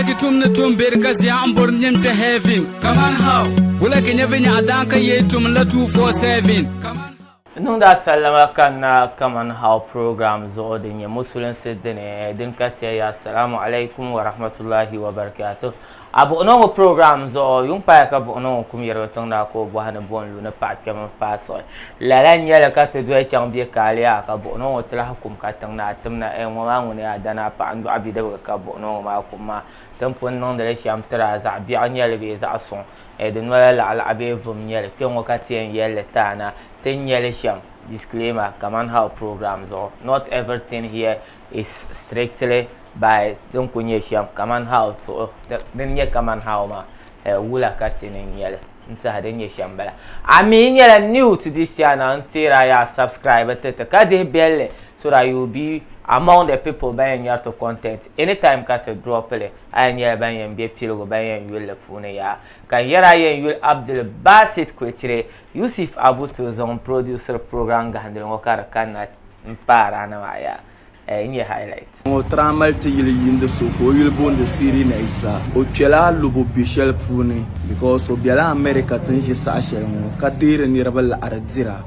Ki tum ni tum beri ka zia n bori nim kpe heaven. Kaman how? Wula ki nyɛ vinyaɣa daan ka yee tum la 247. Kaman N niŋdi a sallama kanna Kaman How program zuɣu din nyɛ musulinsi dini din ka ti a ya Assalamu alaikum wa rahmatullahi wa barakatuh. A buɣino ŋɔ program zuɣu, yuŋ paaya ka buɣino ŋɔ kum yɛrigi tiŋda ka o bɔhi ni bo n lu ni paɣa kpɛm n faai siɣi. Lala n-nyɛli ka ti doli chaŋ bɛ kaaliya ka buɣinɔ ŋɔ ti lahi kum ka tiŋ naa tim na, Ɛɛ ŋɔ maa ŋuni yaa danaa paɣa n-dɔɣi bidibigi ka buɣinɔ ŋɔ maa kum maa? Ti ni pun niŋdi li shɛm tiri a, zaɣ biɛɣu n-nyɛli bee zaɣ suŋ? Ɛɛ di noli laɣilaɣi bee vum n-nyɛli? Kpe ŋɔ ka ti yɛn yɛli li ti a na, ti ni nya li shɛm, Disclaimer, Kaman How Program zuɣu, Not everything here is strictly by din kuli nyɛ shɛm, Kaman How zuɣu, Din nyɛ Kaman How maa, Ɛɛ wula ka ti ni nya li? n tiɛhi din nyɛ shɛm bala a mi nyɛla new to this channel n teera yaa subscribe ti ti ka dihi belli so that you will be among the people ban yɛn nyɛri ti content anytime ka ti drop li a yɛn nyɛla ban yɛn bɛ piligu ban yɛn yuli li puuni yaa ka n yɛri a yɛn yuli Abdul Basit Kwechire Yusuf Abu Turzong n produsiri program gahindili ŋɔ ka di kanna n paara ni maa yaa. eh, n nyɛ highlight. Ŋɔ traa mali ti yili yiindi so ka o yuli boondi Siri Naisa. O kpela alobo be shɛli puuni because o bela America tin ʒi saha shɛli ŋɔ ka deeri niriba laɣiri dira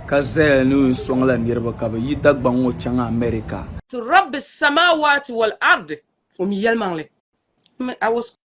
ka zaya ni o yɛn sɔŋ la niriba ka bɛ yi Dagbaŋ ŋɔ chaŋ America. Rabbi samaawaati wal ardi, o mi yɛlimaŋli. I was.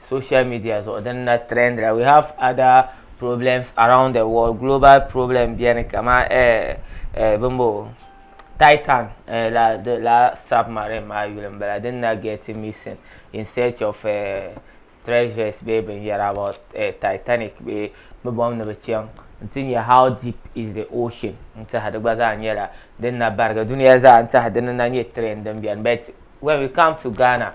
social media zuɣu din na trend la we have other problems around the world global problem biɛni kama eh eh bimbo titan eh, la the la submarine maa yuli n bala din na get missing in search of eh, treasures bee binyɛra about eh, titanic bee bi bom ni bi chaŋ n ti nyɛ how deep is the ocean n tiɛha di gba zaa nyɛla din na barigi duniya zaa n tiɛha di ni na nyɛ trend din biɛni but when we come to ghana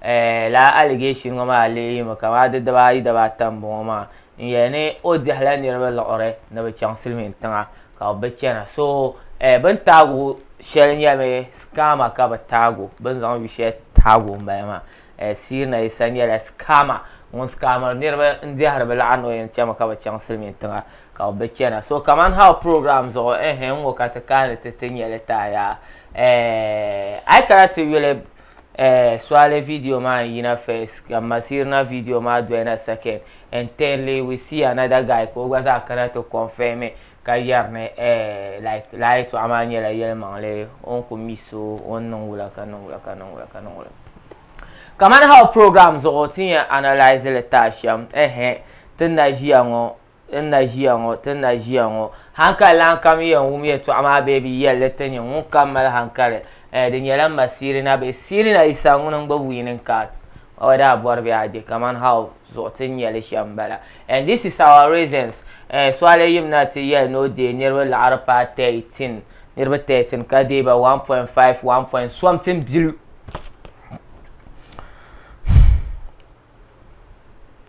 Eh, lala allegation ŋɔ maa lee yimi kamani di dibaa ayi dibaa ata n bɔŋɔ maa n yɛli ni o dihila niriba liɣiri ni bi chaŋ silimiin tiŋa ka o bi chana so eh bin taagu shɛli nyɛmi scammer ka bi taagu bin zaŋ yu shɛli taagu n bala maa eh Siiri na Yisa nyɛla scammer ŋun scammer niriba n dihiri bi liɣiri ni o yɛn chami ka bi chaŋ silimiin tiŋa ka o bi chana so kamani how program zuɣu eh n ŋɔ ka ti kaani ti ti nyɛli taaya eh ayi kana ti yuli Eh, swale video maa n yina first ka masirina video maa doyina second and thirdly we see another guy ka o gba zaa kana ti confirm ka yɛri ni eh like laa yɛtɔɣa maa nyɛla yɛlimaŋli o ni ku mi so o ni niŋ wula ka niŋ wula ka niŋ wula ka niŋ wula kamani how program zuɣu ti yɛn analyse li taashɛm ehe ti na ʒiya ŋɔ ti ni na ʒiya ŋɔ, ti ni na ʒiya ŋɔ. Hankali lan kam yɛn wum yɛtɔɣa maa bee bi yɛli li ti nya ŋun kam mali hankali. Eh, di nyɛla m ma Siirina bee Siirina Yisa ŋuni n-gba wiining kaard maa o daa bɔri bee a je kaman how zuɣu ti ni nya li shɛm m-bala. And this is our reasons, eh, Suale yim na ti yɛli ni o deei niriba laɣiri paai 13, niriba 13 ka deei ba 1.5, one point something biliyu.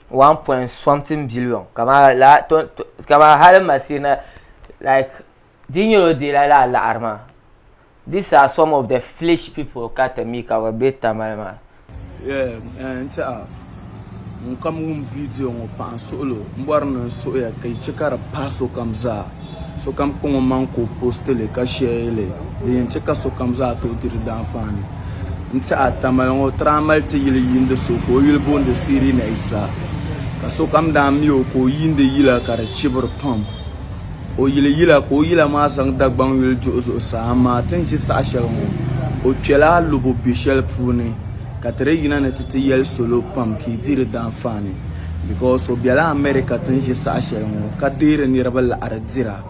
one point something billion kamara laa to to kamara hali masiri na like di nyɛla o deela laa laɣari maa these are some of the flesh people ka ti mi ka bi bɛ tamali maa. Yeah, eh, n tiɛha ŋun kam wum viidiyo ŋɔ paɣa n suɣilo m bɔri ni n suɣiya ka yi chɛ ka di pahi sokam zaa. Sokam kɔŋ omaŋ ka o postili, ka shɛli din yɛn chɛ ka sokam zaa tooi di di daanfaani n-tiɛhi a tamali ŋɔ. Tiri a mali ti yili yiindi so ka o yuli booni Sirina Isa, ka sokam daa mi o ka o yiindi yila ka di chibiri pam. O yili yila ka o yila maa zaŋ Dagbaŋ yuli duhi zuɣusaa, amaa ti ni ʒi saha shɛli ŋɔ, o kpɛla a lubu be shɛli puuni, ka ti di yina ni ti ti yɛli salo pam ka yi di di daanfaani. Because o bela America tin ʒi saha shɛli ŋɔ ka deeri niriba laɣiri dira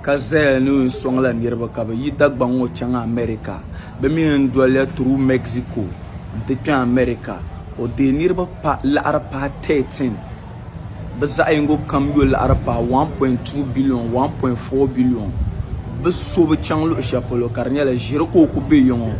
ka zaya ni o yɛn sɔŋla niriba ka bɛ yi Dagbaŋ ŋɔ chaŋ America. Bɛ mi yɛn doliya through Mexico nti kpe America. O deei niriba laɣiri paai 13. Bɛ zaɣ yingo kam yo laɣiri paai 1.2 billion, 1.4 billion. Bɛ so bi chaŋ luɣ shɛli polo ka di nyɛla ʒiri ka o kuli be ya ŋɔ.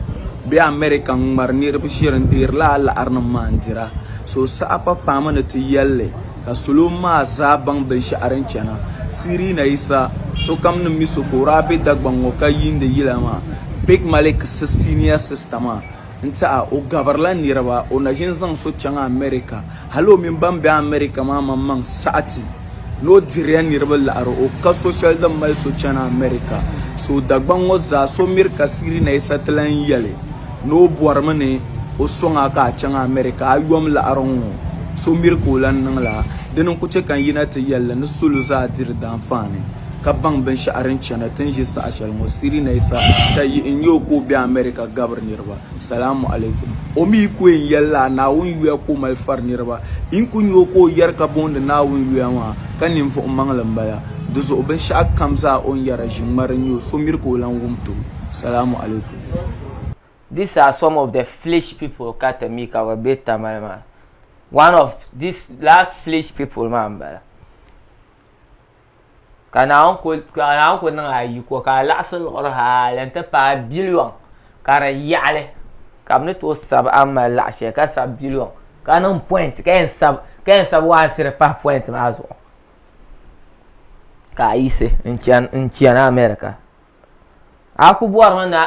Bɛ America n-ŋmari niriba ʒiri n-deeri lala laɣirinim maa n-dira. So saha pa paami ni ti yɛli li, ka salo maa zaa baŋ binshɛɣu din chana. Sirina Yisa, Sokam ni mi so ka o daa be Dagbaŋ ŋɔ ka yiindi yila maa, Big Malik si senior sister maa, n-ti a, o gabirila niriba, o na ʒini zaŋ so chaŋ America. Hali o mini ban be America maa maŋmaŋ saɣiti. ni o diriya niriba laɣiri o ka so shɛli din mali so chani America. So Dagbaŋ ŋɔ zaa so miri ka Siri Naisa ti lan yɛli ni o bɔrimi ni o sɔŋ a ka a chaŋ America a yom laɣiri ŋɔ so miri ka o lan niŋ la. Dini n-ku chɛ ka n yina ti yɛl li ni salo zaa diri daanfaani ka baŋ binshɛɣu din chana ti ni ʒi saha shɛli ŋɔ. Siri Naisa ka yihi n-nya o ka o be America gabiri niriba. Salamu alaikum. O mi ku yɛn yɛlila a Naawuni yuya ka o mali fari niriba. Yi ni ku nya o ka o yɛri ka booni Naawuni yuya maa, ka ninvuɣ maŋli m-bala. Di zuɣu binshɛɣu kam zaa o ni yɛra ʒiŋmari n-nyɛ o, so miri ka o lan wum ti o. Salamu alaikum. These are some of the flesh people ka ti mi ka bɛ be Tamale maa. One of these lala flesh people maa m-bala. ka Naawuni kul, ka Naawuni kul niŋ a yiko ka a laɣisi liɣiri hal n-ti paai biliɔŋ ka di yaɣili ka bɛ ni tooi sab a ni mali laɣ shɛli ka sab biliɔŋ ka niŋ pɔint ka yɛn sab, ka yɛn sab waansiri pahi pɔint maa zuɣu ka a yiɣisi n-chani, n-chani America. A ku bɔri mi ni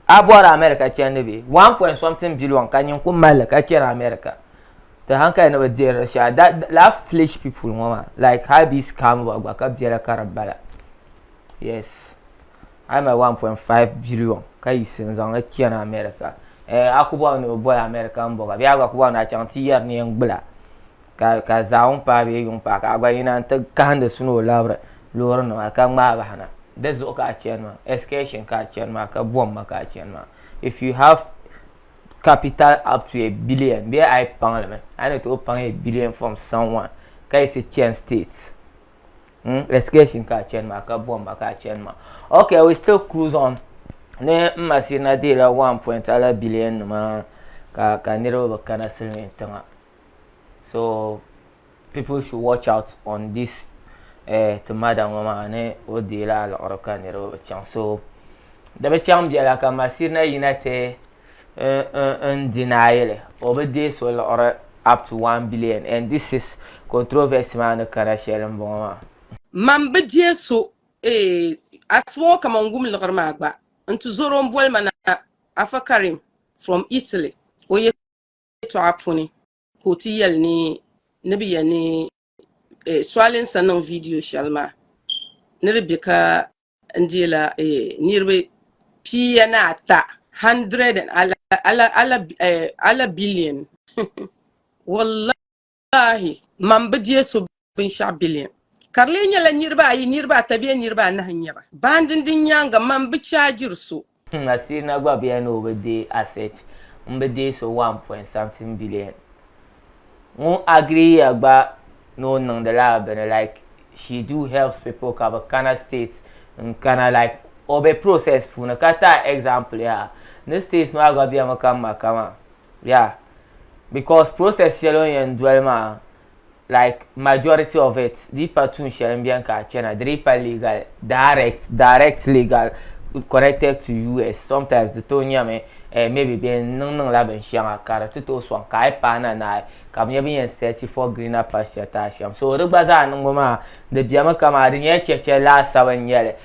a bɔri America chandi bee? One point something billion ka nyin ku mali li ka chani America. Ti hankali ni bi dihiri di shɛli. That, lala foolish people ŋɔ maa, like hali bɛ yi scam ba gba ka biɛla ka di bala. Yes, a yi mali one point five billion ka yiɣisi n zaŋ li chani America, eh, a ku bɔri mi ni bi boli America m-bɔba bee a gba ku bɔri mi ni a chaŋ ti yɛri ni yɛn gbula? ka ka zaawun paai bee yuŋ paai ka a gba yina n ti kahindi suni o labiri loori nima ka ŋmaai bahi na di zuɣu ka a chani maa excursion ka a chani maa ka bom ma ka a chani maa if you have capital up to a billion bee a yi paŋ li mi a yi ni tooi paŋ a billion from someone ka yiɣisi chani state mm excursion ka a chani maa ka bom ma ka a chani maa okay we still cruise on ni n ma sirina deela one point ala billion nima ka ka niriba bi kana silimiin tiŋa. so people should watch out on this eh, ti madam ŋɔ maa ni o deei la liɣiri ka niriba bi chaŋ so di bi chaŋ biɛla ka masirina yina ti n deny li o bi deei so liɣiri up to one billion and this is controversy maa ni kana shɛli n bɔŋɔ maa Man bi deei so eh, asima ŋɔ kaman wum liɣiri maa gba n ti zoro n boli ma na Afa Karim from Italy o ye yɛtɔɣa puuni ka o ti yɛli ni ni bi yɛn ni eh, sɔalinsa niŋ vidiyo shɛli maa ni di bɛ ka n deela eh, niriba pia ni ata hundred and ala ala ala eh, ala billion wallahi Wallahi, mam bi diɛ so binshɛɣu biliɛn. Ka di lee nyɛla niriba ayi, niriba ata bee niriba anahi n-nyɛ ba. Baandin din nyaaŋa mam bi chaajiri so. N asiiri na gba bɛya ni o bi diɛ asset m bi diɛ so one point something billion. Ŋun agree ya gba ni o niŋdi la bini like she do helps people ka bi kana state n kana like o be process puuni. Ka tahi example yaha ni state maa gba bɛmi ka m ma ka maa. yeah because process shɛli o ni yɛn doli maa like majority of it di pa tuun shɛli n bɛni ka a chɛna di di pa legal direct direct legal connected to us sometimes di tooi nyɛmi eh, maybe bɛ niŋ niŋla binshɛŋa ka di ti tooi sɔŋ ka a yi paai na naai ka bi nyɛ bin yɛn search for greener pasture taa shɛm so di gba zaa niŋbu maa di bɛmi kama di nyɛla chɛchɛ laasabu n nyɛli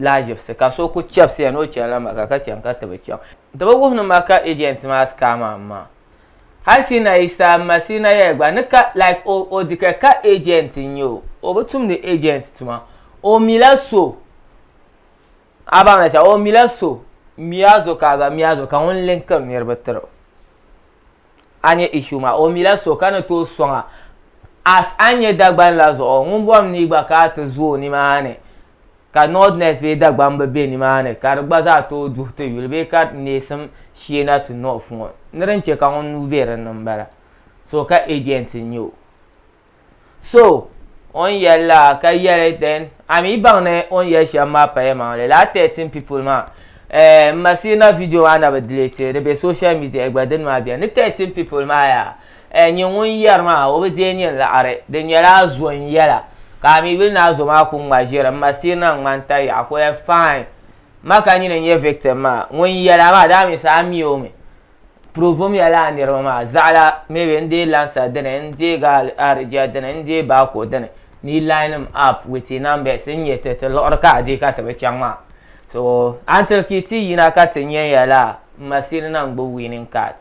lahiʒibisi ka so ku chɛbisiya ni o chani la Maka ka chani ka ti bi chaŋ. Di bi wuhi ni Maka agent maa scam am maa. Hali Sina Isa m-ma Sina Yaya gba ni ka like o o di ka ka agent n-nyɛ o. O bi tumdi agent tuma. O mila so a baŋ la shɛm o mila so Miazo ka a gba Miazo ka ŋun linkiri niriba tiri o. a nyɛ issue maa o mila so ka ni tooi sɔŋa as a nyɛ Dagban la zuɣu ŋun bɔri ni gba ka a ti zo o nimaani ka Northerners bee Dagban bi be nimaani ka di gba zaa tooi duhi ti yuli bee ka neesim shee na ti North ŋɔ ni din che ka ŋun nuu be dinni m-bala so ka agent n-nyɛ o. So o ni yɛli la ka yɛli then a mi baŋ ni o ni yɛli shɛm maa paya maŋli lala thirteen people maa eh, m ma siri na video maa na bi delete di be social media gba dini maa beni ni thirteen people maa yaa eh, nyin ŋun yɛri maa o bi deei nyin laɣiri di nyɛla a zo n yɛla ka a mi yuli ni a zo maa ku ŋma ʒiri m ma siri na ŋmani ta yaɣa ka o yɛli fine ma ka nyin n nyɛ victim maa ŋun yɛla maa daa mi sa a mi o mi Provum ya lala niriba maa, zaɣila maybe n deei lansa dini, n deei gaali aridjia dini, n deei baako dini, ni yi line them up with your numbers n nya ti ti luɣiri ka a deei ka ti bi chaŋ maa. So, until ka yi ti yina ka ti nya ya la masiri na n-gbubi winning card.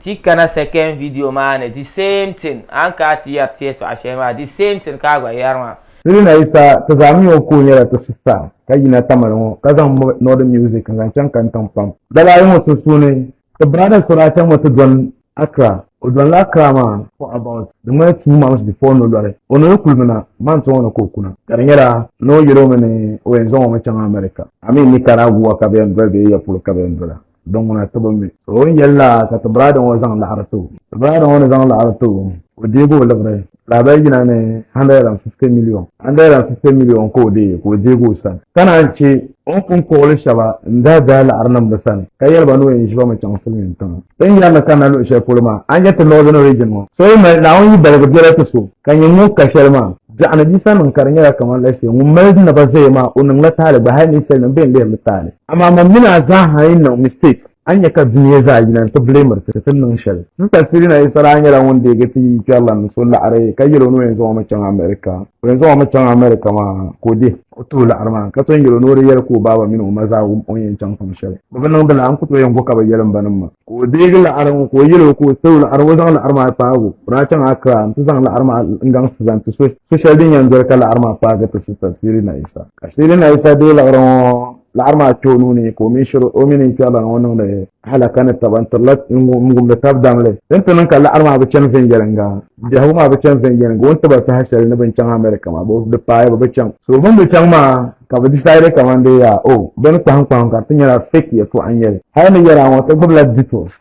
Ti yi kana second video maa ni, the same thing, a ni kana ti yɛri ti yɛtɔɣa shɛli maa, the same thing ka a gba yɛri maa. Sirina Isa ti zaa mi o ka o nyɛla ti sista ka yina Tamale ŋɔ ka zaŋ mɔb Northern Music n-zaŋ chaŋ Kantaŋ pam. Daba ayi ŋɔ sunsuuni, ti brada Soracha ŋɔ ti dɔni Accra. O dɔnila Accra maa for about di ŋmani two months before no lɔri o ni di kuli mi na month ŋɔ ni ka o kuna ka di nyɛla ni o yɛl o mi ni o yɛn zaŋ o mi chaŋ America. I mean Nicaragua ka bɛ yɛn doli bee ya polo ka bɛ yɛn dola. din ŋuna ti bi mi. O ni yɛli la ka ti biraada ŋɔ zaŋ laɣiri ti o. Ti biraada ŋɔ ni zaŋ laɣiri ti o, o deegi o liɣiri lahabali yina ni 150 miliyon. 150 miliyon ka o deei ka o deegi o sani, ka naan chɛ o ni pun kpuɣili shɛba n-daa daai laɣiri niŋ bɛ sani, ka yɛli ba ni o yɛn ʒi ba mi chaŋ silimiintiŋa. Ti ni yɛri ni kanna luɣ shɛli polo maa, a ni nya ti Northern Region ŋɔ, so yi mali Naawuni yidaligu biɛla ti so. ka nyɛ ŋun ka shɛli maa biɛɣuni bisa niŋ ka di nyɛla kamani la shee ŋun mali naba zaya maa o niŋla taali gba hali ninsali nim bɛn lihiri taali amaa man mini a zaaha yi niŋ mistake a ni nyɛ ka dunia zaa yina n ti blamiri ti ti ni niŋ shɛli sista Sirina Isa daa nyɛla ŋun deegi ti yi kpɛrila ni so laɣiri ka yɛl o ni o yɛn zaŋ o mi chaŋ America o yɛn zaŋ o mi chaŋ America maa ka o dihi O tuhi laɣiri maa ka ton yɛl o ni o di yɛli ka o baaba mini o ma zaa wum o ni yɛn chaŋ pam shɛli. Bɛ bi niŋdi lala, n ku tooi yɛn go ka bɛ yɛli m ba ni m ma. Ka o deegi laɣiri ŋɔ ka o yɛl o ka o tiri o laɣiri ŋɔ zaŋ laɣiri maa kpaag o ni a chaŋ Accra nti zaŋ laɣiri maa n-gaŋsi zaŋ ti so shɛli din yɛn doli ka laɣiri maa kpaagi ti sista Seelina Isa. Ka Seelina Isa deei laɣiri ŋɔ. laɣiri maa kpe o nuu ni ka o mini shiri o mini kpɛriba ŋɔ niŋdi halaka ni taba n tirila ŋumdi tab damli din ti niŋ ka laɣiri maa bi chani viɛnyɛliŋga biɛhigu maa bi chani viɛnyɛliŋga o ni tiba saha shɛli ni bin chaŋ America maa di paaya bi bi chaŋ so bin bi chaŋ maa ka bi decide kamandee yaa o bini kpahim kpahim ka ti nyɛla fake yɛltɔɣa n nyɛli hali ni yɛla ŋɔ ti gbubila details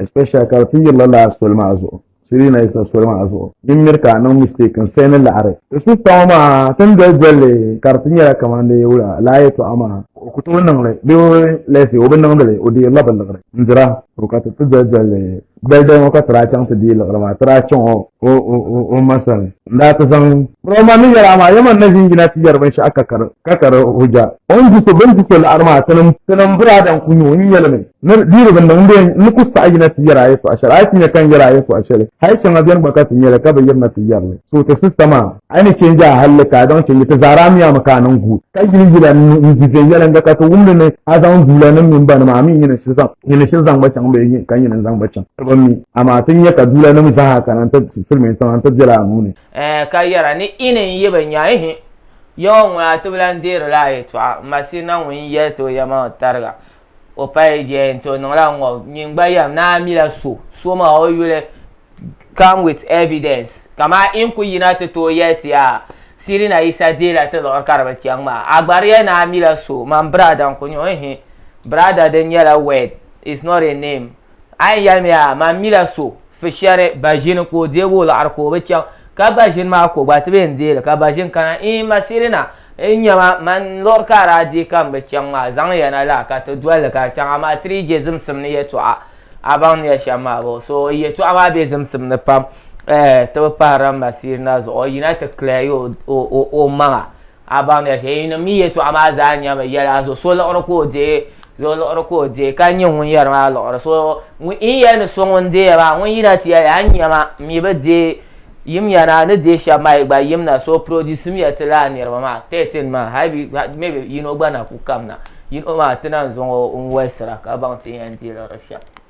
especially ka ti yirila laa soli maa zuɣu siri na isa soli maa zuɣu din miri ka niŋ mistake n sɛn ni laɣari ti sista ŋɔ maa tin doli dolli ka di ti nyɛla kamani di wula laa yɛtɔɣa maa ka o ku tooi niŋli bee lɛsi o bi niŋdili o deerila bi liɣiri n dira to ka ti ti doli dolli doli doli ŋɔ ka ti daa chaŋ ti deei liɣiri maa ti daa chaŋ o o o o ma sani n daa ti zaŋ bro man ni yɛla maa yaman na ʒin yina ti yɛri binshɛɣu ka kari ka kari hujja o ni di so bini di so laɣari maa tinim tinim biraada n ku nyɛ o n yɛlimi Ni diri bi niŋ bee n ni ku saɣi yina ti yɛri a yɛtɔɣa shɛli. A yi ti nya ka n yɛri a yɛtɔɣa shɛli, hali shɛŋa beni gba ka ti nya li ka bi yiri na ti yɛri li. So ti sista maa. A yi ni chɛ n-je a halli ka a zaŋ chɛ n-yi ti zaara a mi a mi ka a niŋ guui, ka yili yila n ni n-di viɛnyɛliŋga ka ti wum li ni a zaŋ duulanim mini banima a mi nyini shili zaŋ nyini shili zaŋ gba chaŋ bee yi ka nyini n-zaŋ gba chaŋ ti bi mi. Amaa ti nya ka duulanim zaa kana nti silimiin tiŋa nti bela a nuu ni. Ɛɛh, ka yɛra, N ni yi ni n-yi bi nya ihi Yawɛ ŋun a ti bi lan deeri la a yɛtɔɣa, Masihina ŋun yi yɛli ti o yɛma ŋɔ tariga, o pali jɛya nti o niŋla ŋɔ nyin gba yɛm ni a mila so so maa o yuli come with evidence kamaa in ku yina ti tooi yɛli ti yaa Sirina Yisa deela ti luɣiri ka di bi chaŋ maa a gba di yɛli ni a mila so man biraada n-ku nyɛ o ihi biraada din nyɛla word is not a name a yɛn yɛlimi yaa man mila so fi shɛri baʒini ka o deegi o liɣiri ka o bi chaŋ ka baʒini maa ko gba ti bi yɛn deeli ka baʒini kana ii ma sirina n nyɛma man liɣiri ka a daa deei ka n bi chaŋ maa zaŋya na laa ka ti dolli ka di chaŋ amaa ti dii je zimsim ni yɛltɔɣa a baŋ ni ya shɛm maa bɔ so yɛltɔɣa maa be zimsim ni pam ti bi pahirila ma sirina zuɣu yina ti kilɛya o maŋa A baŋ di shee yi ni mi yɛtɔɣa maa zaa nyɛmi yɛli a so liɣiri ka o deei so liɣiri ka o deei ka nyɛ ŋun yɛri maa liɣiri so in yɛli ni so ŋun deei maa ŋun yina ti yɛli a ni nyɛma mi bi deei yimya na ni deei shɛba maa yi gba yimna so produce miya ti laa niriba maa thirteen maa hali bi maybe yino gba na ku kamna yino maa ti na zaŋ o n wɔlisira ka baŋ ti yɛn deei liɣiri shɛba.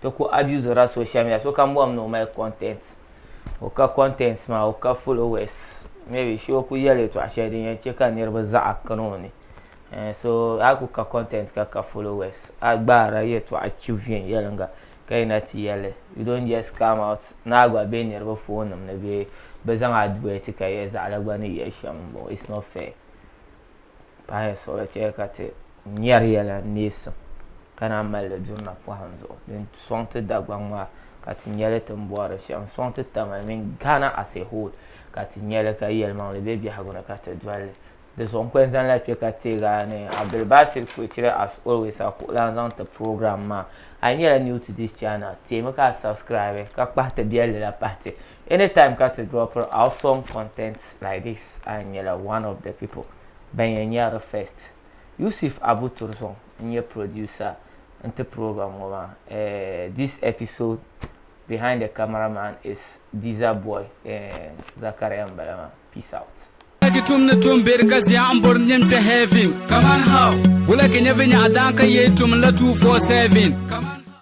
ti ku abuse la social media sokam bɔhim ni o mali content o ka content maa o ka followers maybe shi o ku yɛli yɛltɔɣa shɛli din yɛn chɛ ka niriba zaɣa kana o ni eh, so a ku ka content ka ka followers a gbaara yɛltɔɣa chi viɛnyɛlinga ka yina ti yɛli you don't just come out ni a gba be niriba phone nim ni bee bi zaŋ advert ka yɛ zaɣala gba ni yɛ shɛm it's not fair. pahi suɣili chɛ ka ti nyari yɛla neesim ka naan mali di durina pɔhim zuɣu din sɔŋ ti Dagbaŋ maa ka ti nya li tini bɔri di shɛm n-sɔŋ ti Tamale mini Ghana as a whole ka ti nya li ka yɛlimaŋli be biɛhigu ni ka ti doli li di zuɣu n-kuli zaŋ la kpe ka teeg a ni Abdulbasit Kwecire as always a kuɣulan zaŋ ti program maa a yi nyɛla new to this channel teemi ka a subscribe ka kpahi ti biɛlli la pahi ti anytime ka ti drop our song content like this a nyɛla one of the people ban yɛn nyɛri first yusuf abu turzɔŋ n nyɛ producer n ti program ŋɔ maa eh, this episode behind the camera man is diza boy eh, zakaria n bala maa peace out Ki tum ni tum beri ka zia n bori nim kpɛ heaven. Come on how? Wula ki nyɛ vinyɛɣu daan ka yee tum la 247. Come on.